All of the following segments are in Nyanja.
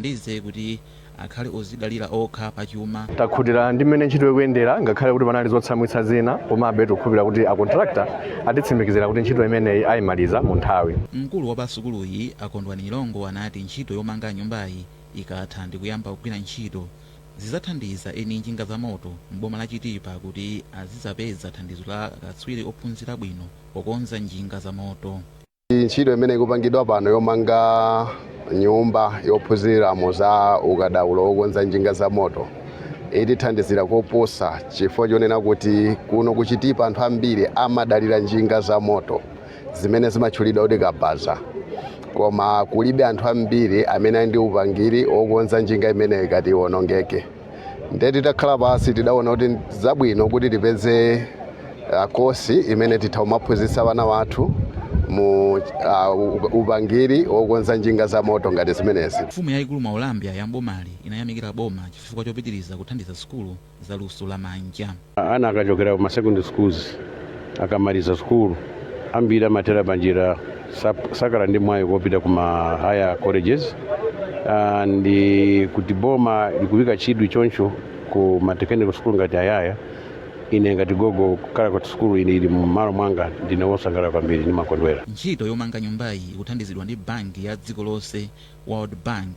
ziwathandize kuti akhale odzidalira okha pa chuma. Takhutira ndi mmene ntchito ikuyendera ngakhale kuti panali zotsamwitsa zina komabe tikukhulupirira kuti a contractor atitsimikizira kuti ntchito imeneyi aimaliza mu nthawi. Mkulu wa pa sukuluyi a Kondwani Nyirongo anati ntchito yomanga nyumbayi ikatha ndikuyamba kugwira ntchito, zidzathandiza eni njinga za moto m'boma la Chitipa kuti azidzapeza thandizo la akatswiri ophunzira bwino pokonza njinga za moto. ntchito imene ikupangidwa pano yomanga nyumba yophunziramo za ukadaulo wokonza njinga za moto itithandizira koposa chifukwa chonena kuti kuno kuchitipa anthu ambiri amadalira njinga za moto zimene zimatchulidwa kuti kabaza koma kulibe anthu ambiri amene ali ndi upangiri wokonza njinga imeneyi ikati iwonongeke ndiye titakhala pansi tidaona kuti ndi zabwino kuti tipeze uh, kosi imene titha kumaphunzitsa vana vathu mu uh, u- upangiri wokonza njinga za moto ngati zimenezi mfumu yayikulu Mwaulambya ya m'bomali inayamikira boma chifukwa chopitiriza kuthandiza sukulu za luso la manja ana akachokera ku masecondary schools akamaliza sukulu ambiri amathera panjira sap- sakhala ndi mwayi kopita ku ma higher colleges Ah, ndi kuti boma likuyika chidwi choncho ku ma technical school ngati ayaya ine ngati gogo kukhala kuti sukulu iyi ili mmalo mwanga ndine wosangalala kwambiri ndimakondwera Ntchito yomanga nyumbayi ikuthandizidwa ndi banki ya dziko lonse, World Bank,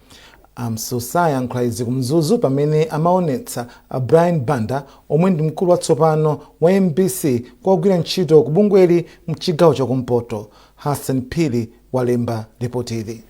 A Msusa ayankhula izi ku Mzuzu pamene amaonetsa a Brian Banda omwe ndi mkulu watsopano wa mbc kwa ogwira ntchito ku bungweli mchigawo cha kumpoto. Hassan Phiri walemba lipotili.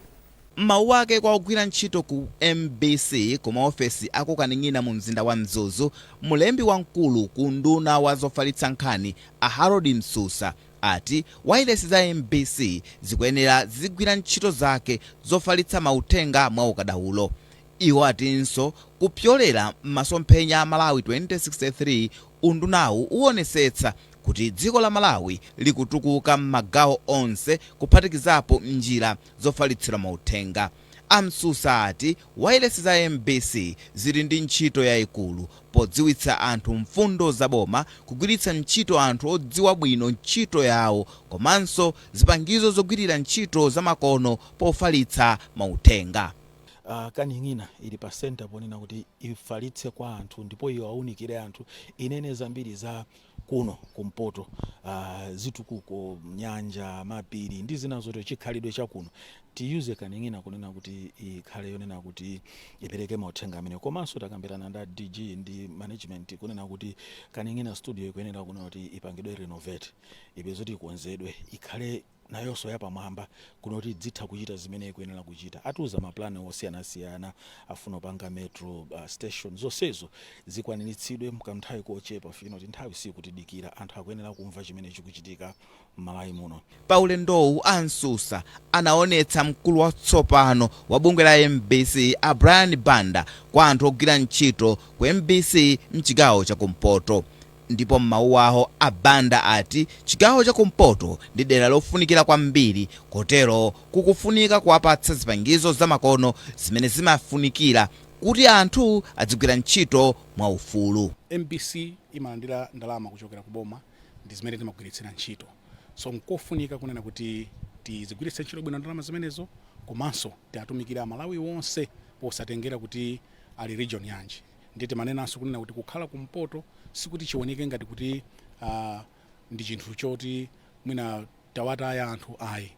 M'mawu ake kwa ogwira ntchito ku mbc ku maofesi a ku Kaning'ina mu mzinda wa Mzuzu, mlembi wamkulu ku unduna wa zofalitsa nkhani a Harold Msusa ati wailesi za mbc zikuyenera zizigwira ntchito zake zofalitsa mauthenga mwa ukadaulo. Iwo atinso kupyolera m'masomphenya a Malawi 2063, undunawu uwonesetsa kuti dziko la Malawi likutukuka m'magawo onse kuphatikizapo njira zofalitsira mauthenga. A Msusa ati wailesi za mbc zili ndi ntchito yaikulu podziwitsa anthu mfundo za boma, kugwiritsa ntchito anthu odziwa bwino ntchito yawo komanso zipangizo zogwirira ntchito zamakono pofalitsa mauthenga. Kaning'ina ili pa center ponena kuti ifalitse kwa anthu ndipo iwaunikire anthu inene zambiri za kuno kumpoto uh, zitukuko nyanja mapiri ndi zina zotero chikhalidwe chakuno tiyuze kaning'ina kunena kuti ikhale yonena kuti ipereke mauthenga amenewa komanso takambirana ndi a dg ndi management kunena kuti kaning'ina studio ikuyenera kunena kuti ipangidwe renovate ife zoti ikonzedwe ikhale nayonso yapamwamba kunoti idzitha kuchita zimene ikuyenera kuchita. Atiuza mapulani osiyanasiyana afuna kupanga metro uh, station zonsezo zikwaniritsidwe mkanthawi kochepa chifukwa choti nthawi siikutidikira anthu akuyenera kumva chimene chikuchitika m'Malawi muno. Pa ulendowu a Msusa anaonetsa mkulu watsopano wa bungwe la mbc a Brian Banda kwa anthu ogwira ntchito ku mbc mchigawo cha kumpoto. Ndipo m'mawu awo a Banda ati chigawo cha kumpoto ndi dera lofunikira kwambiri kotero kukufunika kuwapatsa zipangizo za makono zimene zimafunikira kuti anthu adzigwira ntchito mwa ufulu. Mbc imalandira ndalama kuchokera ku boma ndi zimene timagwiritsira ntchito so nkofunika kunena kuti tizigwiritse ntchito bwino ndalama zimenezo komanso tiatumikire a Malawi onse posatengera kuti ali region yanji. ndiye timanenanso kunena kuti kukhala kumpoto sikuti chioneke ngati kuti uh, ndi chinthu choti mwina tawataya anthu ayi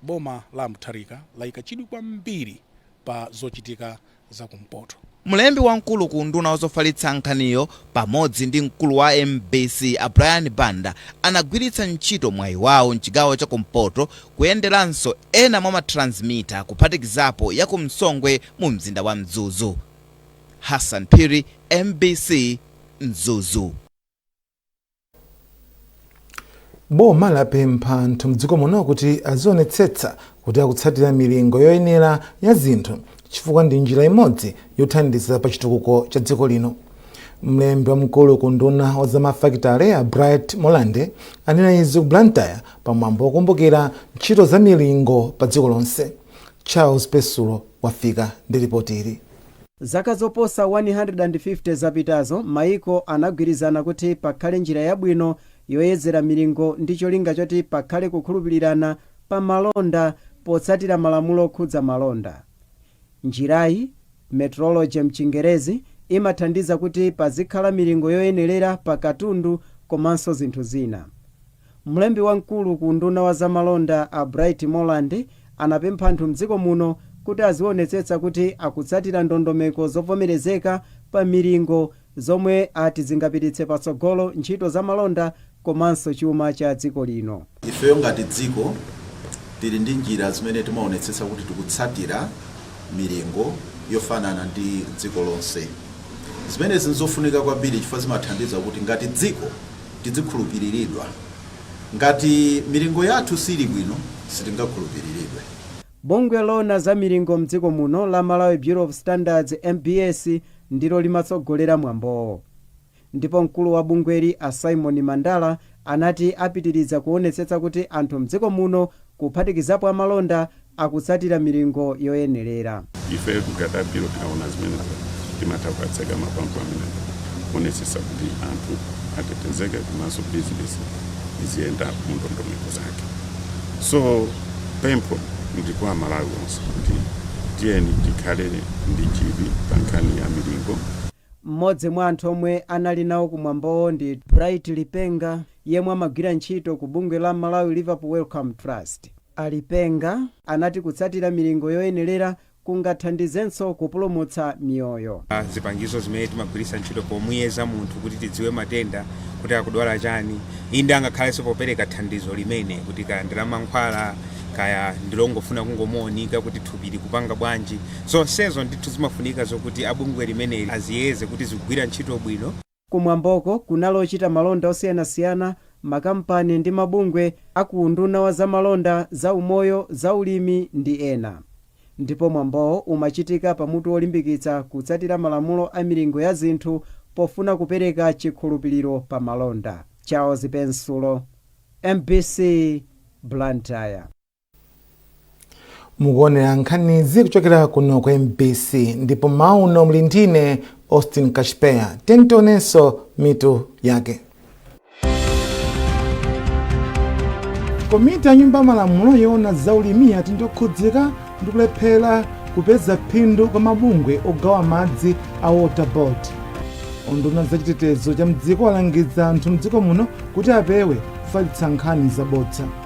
boma la Mutharika layika chidwi kwambiri pa zochitika za kumpoto mlembi wamkulu ku unduna wazofalitsa nkhaniyo pamodzi ndi mkulu wa mbc a Brian Banda anagwiritsa ntchito mwayi wawo mchigawo cha kumpoto kuyenderanso ena mwa matransmita kuphatikizapo ya ku Msongwe mu mzinda wa Mzuzu Hassan Phiri, mbc, Mzuzu. Boma lapempha anthu mdziko muno kuti azionetsetsa kuti akutsatira milingo yoyenera ya zinthu chifukwa ndi njira imodzi yothandiza pa chitukuko cha dziko lino. Mlembi wamkulu ku unduna wa za mafakitale a Bright Molande anena izi ku Blantyre pa mwambo wokumbukira ntchito za milingo pa dziko lonse. Charles Pesulo wafika ndi lipoti ili. Zaka zoposa 150 zapitazo, mayiko anagwirizana kuti pakhale njira yabwino yoyezera milingo ndi cholinga choti pakhale kukhulupirirana pa malonda potsatira malamulo okhudza malonda. Njirayi, metrology m'Chingerezi, imathandiza kuti pazikhala milingo yoyenerera pa katundu komanso zinthu zina. Mlembi wamkulu ku unduna wa za malonda a Bright Molande anapempha anthu mdziko muno kuti azionetsetsa kuti akutsatira ndondomeko zovomerezeka pa milingo zomwe ati zingapititse patsogolo ntchito za malonda komanso chuma cha dziko lino. Ifeyo ngati dziko tili ndi njira zimene timaonetsetsa kuti tikutsatira milingo yofanana ndi dziko lonse. Zimenezi n'zofunika kwambiri chifukwa zimathandiza kuti ngati dziko tidzikhulupiriridwa. Ngati milingo yathu siili bwino sitingakhulupiriridwe. Bungwe loona za milingo mdziko muno la Malawi Bureau of Standards, mbs, ndilo limatsogolera mwambowo ndipo mkulu wa bungweli a Symon Mandala anati apitiriza kuonetsetsa kuti anthu mdziko muno kuphatikizapo amalonda, akutsatira milingo yoyenerera. Ifeyo ngati a Bureau tikaona zimenezo timatha kuwatseka mapampu amenewo kuonetsetsa kuti anthu atetezeke komanso bizinesi iziyenda mu ndondomeko zake. So pempho ndi kwa Amalawi onse kuti tiyeni tikhale ndi chidwi pa nkhani ya milingo. Mmodzi mwa anthu omwe anali nawo ku mwambowo ndi Bright Lipenga yemwe amagwira ntchito ku bungwe la Malawi Liverpool Wellcome Trust. A Lipenga anati kutsatira milingo yoyenelera kungathandizenso kupulumutsa miyoyo. Zipangizo zimene timagwiritsa ntchito pomuyeza munthu kuti tidziwe matenda kuti akudwala chani, inde angakhalenso popereka thandizo limene kuti kaya ndi la mankhwala kaya ndi longofuna kungomuonika kuti thupi likupanga bwanji. Zonsezo ndithu zimafunika zokuti a bungwe limeneli aziyeze kuti zikugwira ntchito bwino. Ku mwamboko kunali ochita malonda osiyanasiyana, makampani ndi mabungwe a ku unduna wa zamalonda, zaumoyo, zaulimi ndi ena. Ndipo mwambowo umachitika pa mutu wolimbikitsa kutsatira malamulo a milingo ya zinthu pofuna kupereka chikhulupiliro pa malonda. Charles Pensulo, mbc, Blantyre. mukuonera nkhanizi kuchokera kuno ku mbc ndipo mmawa uno muli ndi ine austin kashpeya tiyeni tionenso mitu yake komiti ya nyumba ya malamulo yoona za ulimi yati ndi yokhudzika ndi kulephera kupeza phindu kwa mabungwe ogawa madzi a water board unduna wa za chitetezo cha mdziko walangiza anthu mdziko muno kuti apewe kufalitsa nkhani zabodza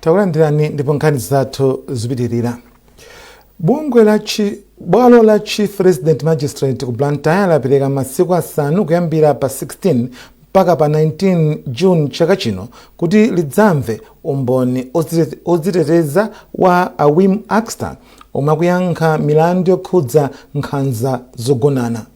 Takulandirani ndipo nkhani zathu zipitirira. Bungwe la chi bwalo la Chief Resident Magistrate ku Blantyre lapereka masiku asanu kuyambira pa 16 mpaka pa 19 June chaka chino kuti lidzamve umboni odzite- odziteteza wa a Wim Akster omwe akuyankha milandu yokhudza nkhanza zogonana.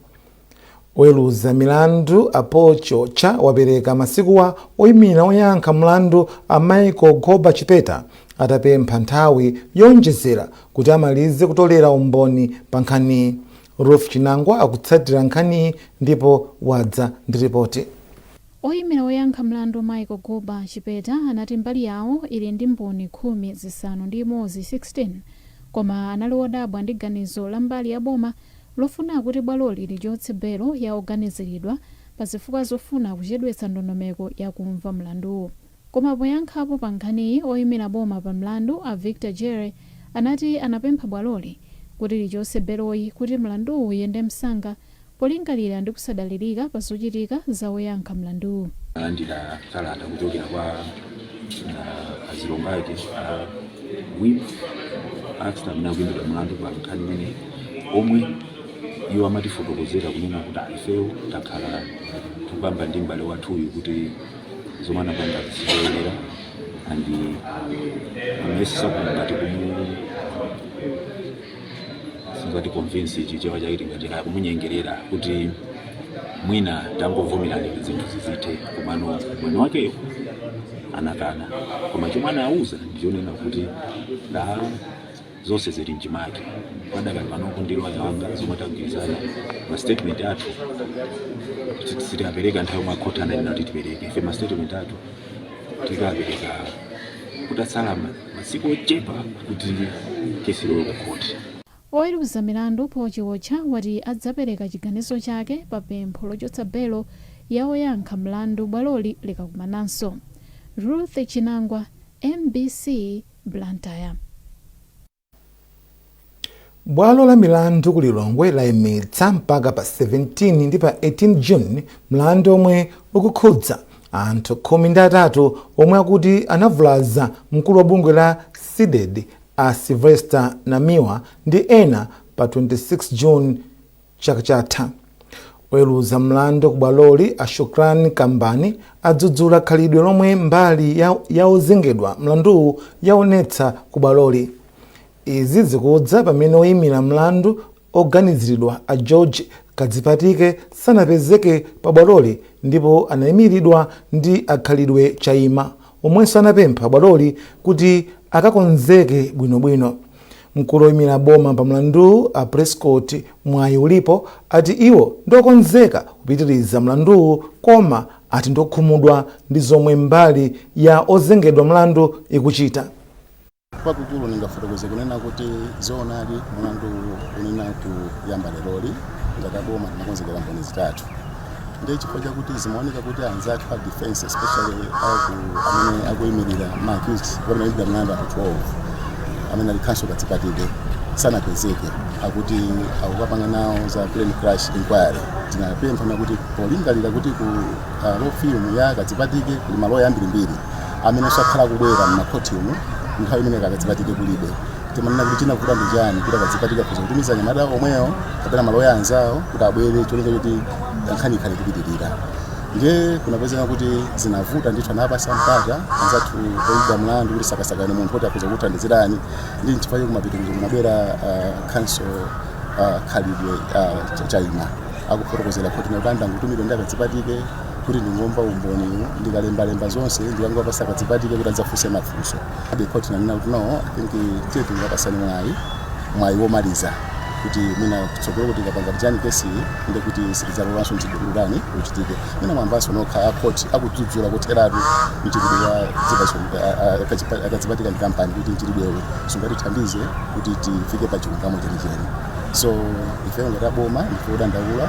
Oweruza milandu a Paul Chiotcha wapereka masikuwa oyimira oyankha mlandu a Michael Goba Chipeta atapempha nthawi yoonjezera kuti amalize kutolera umboni pa nkhaniyi. Ruth Chinangwa akutsatira nkhaniyi ndipo wadza ndi ripoti. Oyimira oyankha mlandu Michael Goba Chipeta anati mbali yawo ili ndi mboni khumi zisanu ndi imodzi 16 koma anali odabwa ndi ganizo la mbali ya boma lofuna kuti bwaloli lichotse belo ya oganiziridwa pa zifukwa zofuna kuchedwetsa ndondomeko ya kumva mlanduwu. Koma poyankhapo pa nkhaniyi, oyimira boma pa mlandu a Victor Jere anati anapempha bwaloli kuti lichotse beloyi kuti mlanduwu uyende msanga polingalira ndi kusadalirika pa zochitika za oyankha mlanduwu. Alandira kalata kuchokera kwa. uh, azilongo ake uh, Wim Akster amene akuimbidwa mlandu pa nkhani imene omwe iwo amatifotokozera kunena kuti ifeyo takhala tikukamba ndi m'bale wathuyu kuti zomwe anapanga sizoyenera and amesesa kuti ngati kumu singa convince Chichewa chake tingati kumunyengerera kuti mwina tangovomerani kuti zinthu zizithe komano mwini wakeyo anakana koma chomwe anauza ndichonena kuti da zonse zili mchimake padakali pano ndi loya wanga zomwe tagwirizana ma statement athu kuti sitinapereke nthawi yomwe akhoti ananena kuti tipereke ife ma statement athu tinkapereka kutatsala ma- masiku ochepa kuti kesi ilowe ku khoti Oweruza milandu Paul Chiotcha wati adzapereka chiganizo chake pa pempho lochotsa belo ya oyankha mlandu bwaloli likakumananso. Ruth Chinangwa, mbc, Blantyre. Bwalo la milandu ku Lilongwe laimitsa mpaka pa 17 ndi pa 18 June mlandu omwe ukukhudza anthu khumi ndi atatu omwe akuti anavulaza mkulu wa bungwe la Cdedi a Sylvester Namiwa ndi ena pa 26 June Chaka chatha, oweruza mlandu ku bwaloli a Shukrani Kumbani adzudzula khalidwe lomwe mbali ya ozengedwa mlanduwu yaonetsa ku bwaloli. Izi zikudza pamene oyimira mlandu oganiziridwa a George Kadzipatike sanapezeke pa bwaloli ndipo anaimilidwa ndi a Khalidwe Chaima omwenso anapempha bwaloli kuti akakonzeke bwino bwino. Mkulu oyimira boma pa mlanduwu a Prescott Mwayiulipo ati iwo ndi okonzeka kupitiriza mlanduwu koma ati ndiokhumudwa ndi zomwe mbali ya ozengedwa mlandu ikuchita. kwakukulu ndingafotokoze kunena kuti zoonadi mlandu uwu unayenera kuyamba leroli ngati aboma tinakonzekera mboni zitatu ndiye chifukwa chakuti zimaoneka kuti anzathu a defense especially amene akuyimirira ma accused amene ayidira mlandu anthu 12 amene ali Counsel Kadzipatike sanapezeke akuti akukapanga nawo za plane crash inquiry tinapemphana kuti polingalira kuti ku uh, law firm ya Kadzipatike kuli maloya ambirimbiri amene sakhala akubwera mmakhotimu nthawi imene Kadzipatike kulibe timanena kuti chinavuta ndi chani kuti a Kadzipatike akhoza kutumiza anyamata omwewo kapena maloya anzawo kuti abwere cholinga choti nkhani ikhale kupitirira ndiye kunapezeka kuti zinavuta ndithu anapatsa mpata anzathu oyimba mlandu kuti sakasakane munthu kuti akhoza kuthandizirani ndi nchifukwa chake kumapitirizo kunabwera ah, counsel ah, khalidwe ah, Cha- chaima akufotokozera khoti kuti andangotumidwa ndi a Kadzipatike kuti ndingomva umboniwu ndikalembalemba zonse ndikangopatsa Kadzipatike kuti adzafunse mafunso the court inanena kuti no i think tiye tikupatsani mwayi mwayi womaliza kuti mwina kutsogolo kuti ikapanga tijeni case-yi ndi kuti sitidzalolanso mchitidwe wotere uchitike mwina mwamvanso nokha akhoti akudzudzula kotheratu mchitidwe wa dzipatso a Kadzipatike ndi kampani kuti mchitidwewo sungatithandize kuti tifike pa chilungamo chenicheni so ife ngati aboma ndife odandaula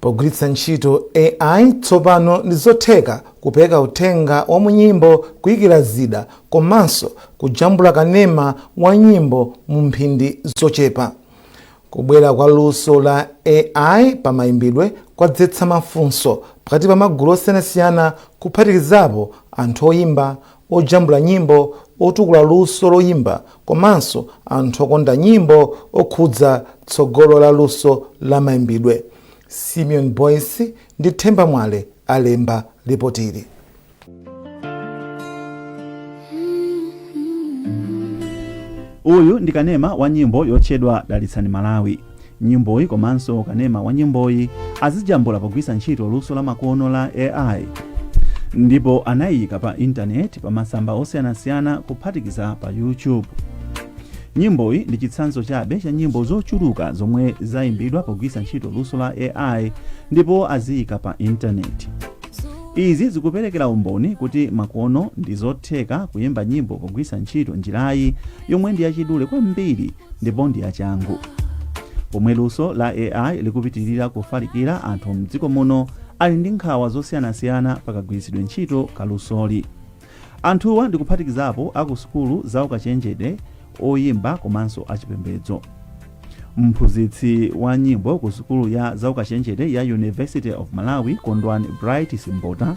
Pogwiritsa ntchito AI, tsopano ndi zotheka kupeka uthenga wa mu nyimbo, kuikira zida, komanso kujambula kanema wa nyimbo mu mphindi zochepa. Kubwera kwa luso la AI pa maimbidwe kwadzetsa mafunso pakati pa magulu osiyanasiyana kuphatikizapo anthu oimba, ojambula nyimbo, otukula luso loimba komanso anthu okonda nyimbo okhudza tsogolo la luso la maimbidwe. Simeon Boyce ndi Themba Mwale alemba lipotili. Uyu ndi kanema wa nyimbo yotchedwa Dalitsani Malawi. Nyimboyi komanso kanema wa nyimboyi azijambula pogwiritsa ntchito luso la makono la AI ndipo anayiyika pa intaneti pa masamba osiyanasiyana kuphatikiza pa YouTube. Nyimboyi ndi chitsanzo chabe cha nyimbo zochuluka zomwe zayimbidwa pogwiritsa ntchito luso la AI ndipo aziyika pa intaneti. Izi zikuperekera umboni kuti makono ndi zotheka kuyimba nyimbo pogwiritsa ntchito njirayi yomwe ndi yachidule kwambiri ndipo ndi yachangu pomwe luso la ai likupitirira kufalikira anthu mdziko muno ali ndi nkhawa zosiyanasiyana pakagwiritsidwe ntchito ka lusoli anthuwa ndi kuphatikizapo aku sukulu za ukachenjede oyimba komanso achipembedzo mphunzitsi wa nyimbo ku sukulu ya zaukachenjede ya university of malawi kondwani bright simbota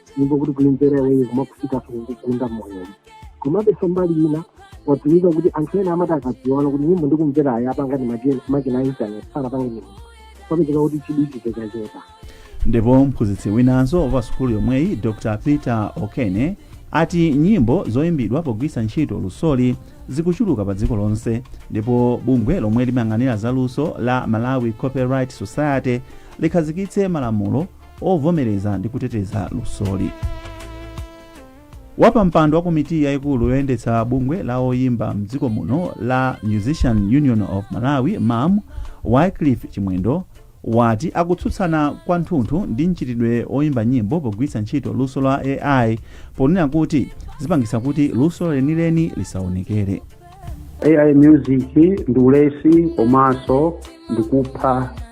nyimbo kuti kuimvera iweyo kumakufikanso kukugunda moyo komabe so mbali ina watumiza kuti anthu ena amati akadziwa kuti nyimbo ndikumvera ayi apanga ndi machina- makina a intaneti sanapange nyimbo kwapezeka kuti chidwi chikuchepa ndipo mphunzitsi winanso wa sukulu yomweyi dr peter okene ati nyimbo zoyimbidwa pogwiritsa ntchito lusoli zikuchuluka pa dziko lonse ndipo bungwe lomwe limayang'anira za luso la malawi copyright society likhazikitse malamulo ovomereza ndi kuteteza lusoli wapampando wa komiti yayikulu yoyendetsa bungwe la oyimba mdziko muno la musicians union of malawi mum wycliffe chimwendo wati akutsutsana kwanthunthu ndi mchitidwe oyimba nyimbo pogwiritsa ntchito luso la ai ponena kuti zikupangitsa kuti luso lenileni lisaonekere ai music ndi ulesi komanso ndikupha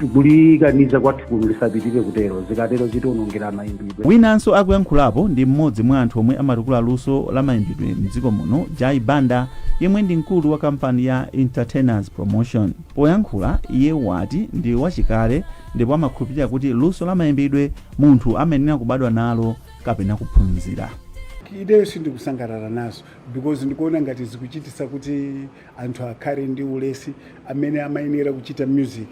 tikulikaniza kwathu kuno lisapitire kutero zikatero zitiwonongera mayimbidwe winanso akuyankhulapo ndi mmodzi mwa anthu omwe amatukula luso la mayimbidwe mdziko muno jai banda yemwe ndi mkulu wa kampani ya entertainers promotion poyankhula iye wati ndi wachikale ndipo amakhulupirira kuti luso la mayimbidwe munthu amayenera kubadwa nalo kapena kuphunzira ideyo sindikusangalala nazo because ndikuona ngati zikuchitisa kuti anthu akhale ndi ulesi amene amayenera kuchita music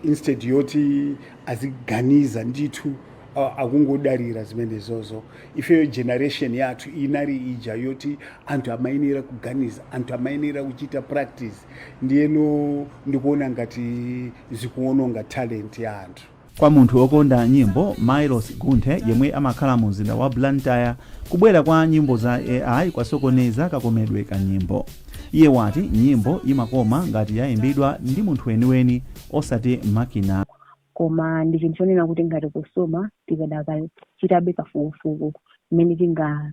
instead yoti aziganiza ndithu a- akungodalira zimenezozo ifeyo generation yathu inali ija yoti anthu amayenera kuganiza anthu amayenera kuchita practice ndiyeno ndikuona ngati zikuononga talent ya anthu Kwa munthu okonda nyimbo Miloss Gunthe yemwe amakhala mu mzinda wa Blantyre, kubwera kwa nyimbo za AI kwasokoneza kakomedwe ka nyimbo. Iye wati nyimbo imakoma ngati yaimbidwa ndi munthu weniweni osati makina. Koma ndi chinthu chonena kuti ngati kosoma tikadakachitabe kafukufuku mmene tinga.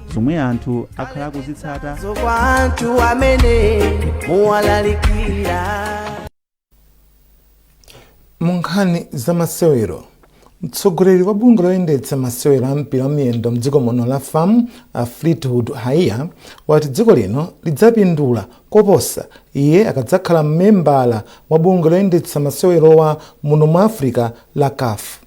zomwe anthu akhala akuzitsata mu nkhani za masewero mtsogoleri wa bungwe loyendetsa masewero a mpira wamiyendo mdziko muno la fam a fleetwood haiya wati dziko lino lidzapindula koposa iye akadzakhala mmembala wa bungwe loyendetsa masewerowa muno mu africa la caf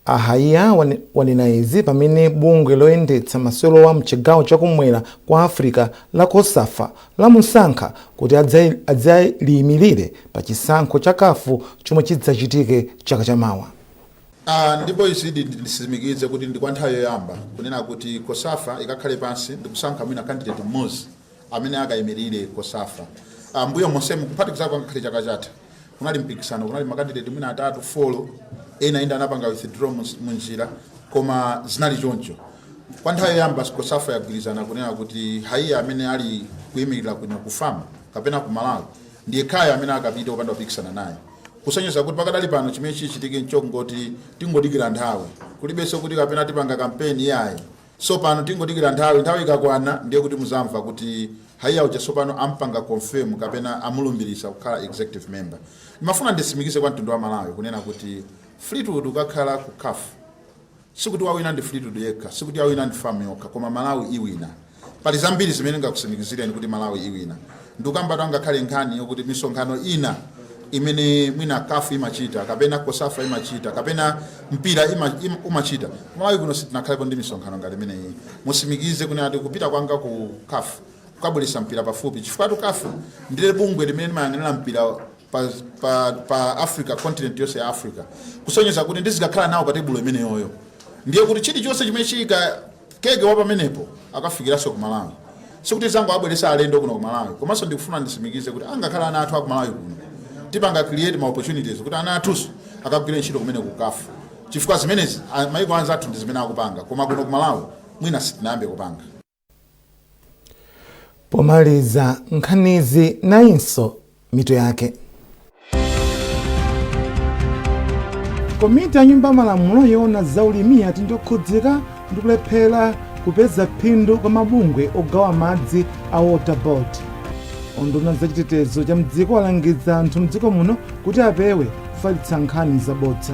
A Haiya wanena izi pamene bungwe loyendetsa masewerowa mchigawo chakumwera kwa Africa la Cosafa lamusankha kuti adzaliyimilire pa chisankho cha caf chomwe chidzachitike chaka cha mawa. a Ndipo izi ndi nditsimikize kuti ndi kwa nthawi yoyamba kunena kuti Cosafa ikakhale pansi ndikusankha mwina candidate mmodzi amene akayimirire Cosafa. A mbuyo monsemu kuphatikizapo angakhale chaka chatha kunali mpikisano, kunali makandideti mwina atatu folo, ena ndi anapanga withdraw mu mu njira koma zinali choncho. Kwa nthawi yoyamba Cosafa yagwirizana kunena kuti haiya amene ali kuyimirira kuno ku fam kapena ku Malawi ndi yekhayo amene akapite opanda kupikisana naye kusonyeza kuti pakadali pano chimene chichitike nchongoti tingodikira nthawi kulibenso kuti kapena tipanga kampeni yayi Sopano tingodikila nthawi, nthawi ikakwana ndiye kuti muzamva kuti haiya uja sopano ampanga confirm kapena amulumbilisa kukhala executive member. Ndimafuna ndisimikize kwa mtundu wa Malawi kunena kuti Fleetwood ukakhala ku caf sikuti wawina ndi Fleetwood yekha, sikuti yawina ndi fam yokha koma Malawi iwina. Pali zambiri zimene ndingakusimikizileni kuti Malawi iwina. ndikukambatu angakhale nkhani yokuti misonkhano ina imene mwina kafu imachita kapena kosafa imachita kapena mpira ima, im, umachita malawi kuno sitinakhalepo ndi misonkhano ngati imeneyi ndisimikize kunena kuti kupita kwanga ku kafu kukabweretsa mpira pafupi chifukwa kafu ndiye bungwe limene limayang'anira mpira pa, pa, pa africa continent yonse ya africa kusonyeza kuti ndizikakhala nawo pa tebulo imeneyoyo ndiye kuti chilichonse chimene chika Kambidwe pamenepo chikafikilaso ku Malawi sikuti tizangowabwelesa alendo kuno ku Malawi komaso ndikufuna ndisimikize kuti angakhale ana athu aku Malawi kuno tipanga create ma opportunities kuti ana athuso akagwile ntchito kumeneko ku caf chifukwa zimenezi maiko anzathu ndizimene akupanga koma kuno ku Malawi mwina sitinayambe kupanga. Pomaliza nkhanizi nayinso mitu yake. Komiti ya Nyumba ya Malamulo yoona za ulimi yati ndokhudzika ndi kulephera kupeza phindu kwa mabungwe ogawa madzi a Water Board. Unduna wa za chitetezo cha mdziko walangiza anthu mdziko muno kuti apewe kufalitsa nkhani zabodza.